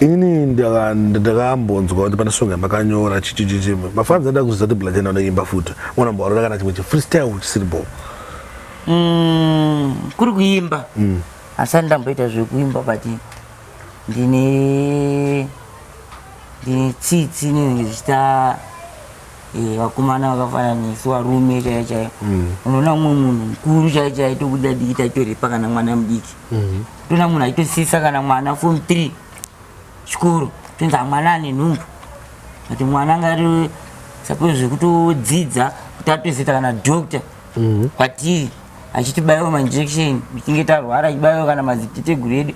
inini ndakambonzwa kuti pane song yamakanyora chichichichi mafans aida kuziva kuti black enda unoimba futi unamboarora kana chimwe chifreestyle chisiri bo mm, kuri kuimba mm. asati ndamboita zvekuimba but ndine ndine tsitsi inenge zvichita Eh, vakomana vakafanana nesu varume chaiyo chaiyo mm. unoona umwe munhu mukuru chaiyo chaiyo tokuda diki taitorepa kana mwana mudiki mm-hmm. toona munhu aitosisa kana mwana fom three chikoro tonzi amwana ane nhumbu ati mwana angari suppose zvekutodzidza kuti atozoita kana doctor mm-hmm. kwatiri achitibaiwa mainjection tichinge tarwara achibaiwa kana maziteteguru edu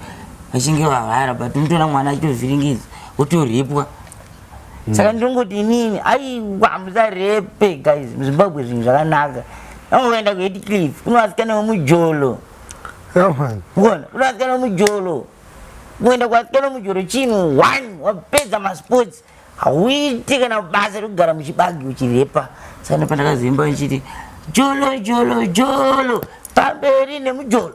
vachinge varwara but unotoona mwana achitovhiringidza otorepwa mm. saka ndinongoti inini aiwa musarepe guys muzimbabwe zvinhu zvakanaka anoenda kuheti cliff kune vasikana vemujolo ona kune vasikana vemujolo kuenda kuvasikana vemujolo chinhu one wapedza masports hauiti kana basa rekugara muchibagi uchirepa saka nepandakazoimba ndichiti jolo jolo jolo pamberi nemujolo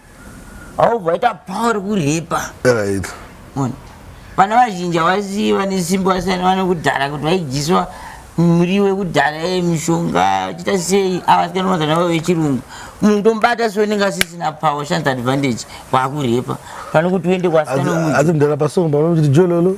aubva ita power kuripa right mona vana vazhinji havasi vane simba vasiyana vane kudhara kuti vaidyiswa muriwo yekudhara ye mishonga vachita sei avasikana mazana vavo vechirungu munhu utomubata so unenge asisina power shands advantage kwakurepa pane kuti uende kwasikana asi mdara pasongo panokuti jololo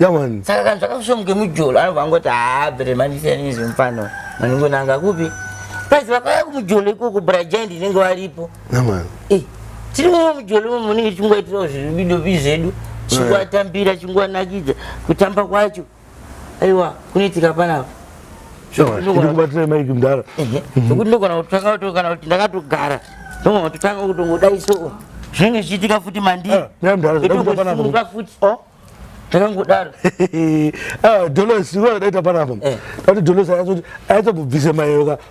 yawani saka kana zvakasomuke mujolo anobva angoti haa bere mandisiyani izvi mufano maningonanga kupi plus vakauya kumujolo ikoko brajaindi inenge varipo yawani Eh, tiri muno mujolo imomo munenge tichingoitirawo zvidobi zvedu chinguvatambira chinguvanakidza kutamba kwacho aiwa kunoitika panapa ndikubatira maiki mdara zvekuti ndogona kutanga kuti kana kuti ndakatogara ndogona kutotanga kutongodai so zvinenge zvichiitika futi mandiitongosimuka eh, futi oh, takangodaro ah, dolos iwe daita panapa eh. tati dolos aizobvise mayoka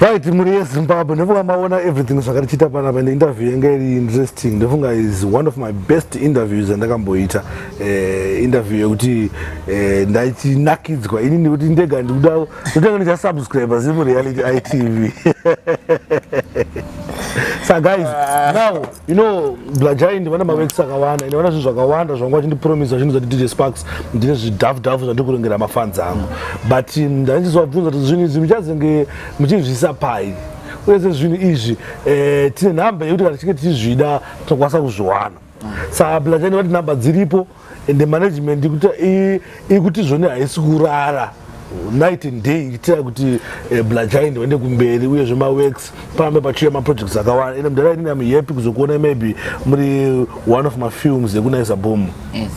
right mhuri yezimbabwe ndofunga maona everything zvakatichiita panapa ende interview yanga iri interesting ndofunga is one of my best interviews andakamboita eh, interview yekuti eh, ndaicinakidzwa ini ndikuti ndega ndikuda ndotanga ndicha subscribe zimu reality itv so guys ah. now you know blajai ndivana mavekisi akawanda ende vana zvinhu zvakawanda zvanga vachindipromisa zvinhu zvati dj sparks ndine zvidhafu dhafu zvandiri kurengera mafanzi angu but mm, ndaichisivabvunza kuti zvinhu izvi muchazenge muchizviisa pai uye sezvinhu izvi eh, tine nhamba yekuti kana tichinge tichizvida tinokwanisa kuzviwana mm. sa blajai ndivati nhamba dziripo and the management ikuti zvone haisi kurara night and day ichitira kuti eh, blagind vaende kumberi uye zvemaworks parambe pachiuya maprojects akawanda ende mudhara inini amhappy kuzokuona maybe muri one of mafilms ekunaisa bomu eh,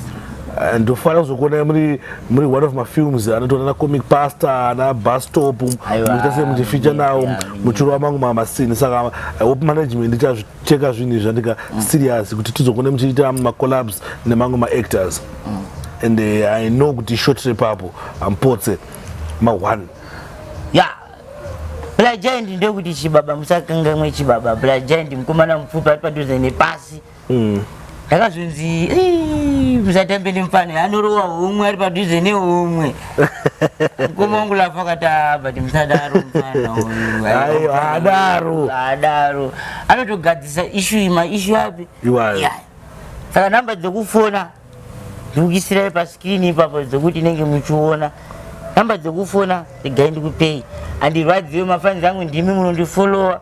ndofara kuzokuona muri muri one of mafilms anotoona na comic pastor ana bustop muchita sei muchifeature nawo muchirova mangu mamasini saka i hope management ichazvi cheka zvinhu izvi andika mm. serious kuti tizokone muchiita macollabs nemamwe maactors mm. and uh, i know kuti short repapo ampotse ma-one ya blagiant ndokuti chibaba musakangamwe chibaba blagiant mukomana mupfupi ari padhuze nepasi mm. ndakazonzi "Ii, musatambe nemufana anorowa humwe ari padhuze nehumwe mukoma wangu lafa akati "Ah, but musadaro mufana uyu Aiwa, haadaro." haadaro anotogadzisa ishu iyi maishu api Iwayo. Iya. saka nhamba dzekufona ndikuisirai paskirini ipapo dzekuti inenge muchiona nhamba dzekufona regai ndikupei andirwadziwe mafanzi angu ndimi munondifolowa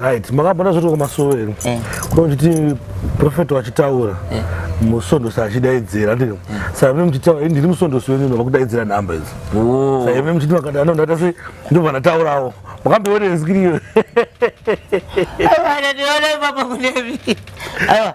right makabona zvoti kwamasowe here eh. kuda kuchiti profeta wachitaura eh. musondosi achidaidzira ndii eh. saive muchitaura ndiri musondosi wenyu ndova kudaidzira nhamba idzi oh. saive muchiti makadaanondata se ndobva ndataurawo makambeonenzikiriyo aiwa ndandiona ipapa kunevi aiwa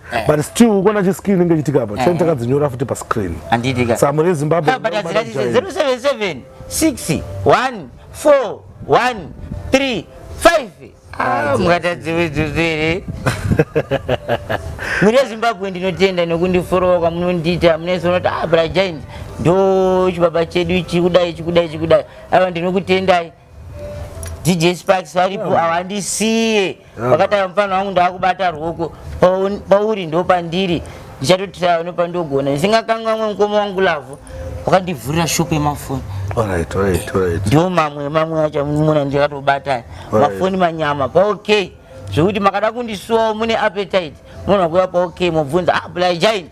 Eh. but still ukona chi screen inge chitika apa chani eh. takadzinyora futi pa screen anditi ka samu re zimbabwe but azira 077 6 1 4 1 3 5 mukatadziwe dzuzere mune zimbabwe ndinotenda nokundiforowa kwamunondiita munese unoti ah brajaini ndo chibaba chedu ichi kudai ichi kudai ichi kudai ava ndinokutendai DJ Sparks varipo yeah. havandisiye yeah. vakatanga mfana wangu ndakubata rwoko pauri ndo pandiri ndichatotirava nopandogona ndisingakangamwe mukoma wangu lavhu wakandivhurira shop yemafoni ndo mamwe mamwe acho muna ndikatobata mafoni manyama paokay zvekuti makada kundisuwawo mune appetite munhu akuya paokay mobvunza ah bly giant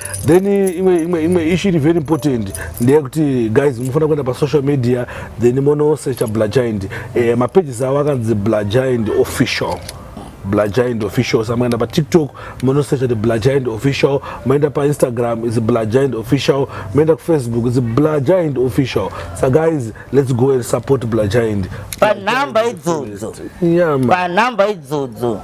then imwe imwe imwe issue iri very important ndeyekuti guys munofanira kuenda pasocial media then monosecha blagind eh, mapages avo akanzi blagind official blagind official sa maenda patiktok monosecha ti blagind official maenda painstagram is blagind official maenda kufacebook is blagind official sa guys let's go and support blagind panhamba idzodzo yeah, panhamba idzodzo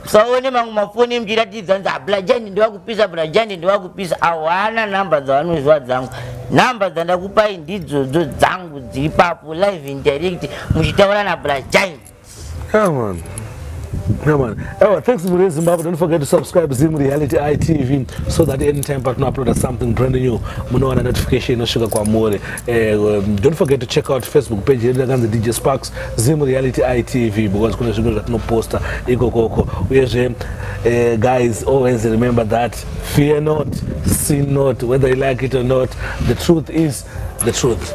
usaone mamwe mafoni emuchiratidza nzi ablajani ndewakupisa ablajani ndewakupisa awana number dzavanoziva dzangu number dzandakupai ndidzodzo dzangu dziri papo live indirect muchitaura nablajani Come Come on. Oh, thanks Mure Zimbabwe. Don't forget to subscribe Zim Reality ITV so that anytime partner upload something brand new, munowana notification inosvika kwamuri. Uh, eh, um, don't forget to check out Facebook page yedu yakanzi DJ Sparks. Zim Reality ITV because kune zvimwe zvatinoposta ikokoko uyezve uh, guys always remember that fear not sin not whether you like it or not the truth is the truth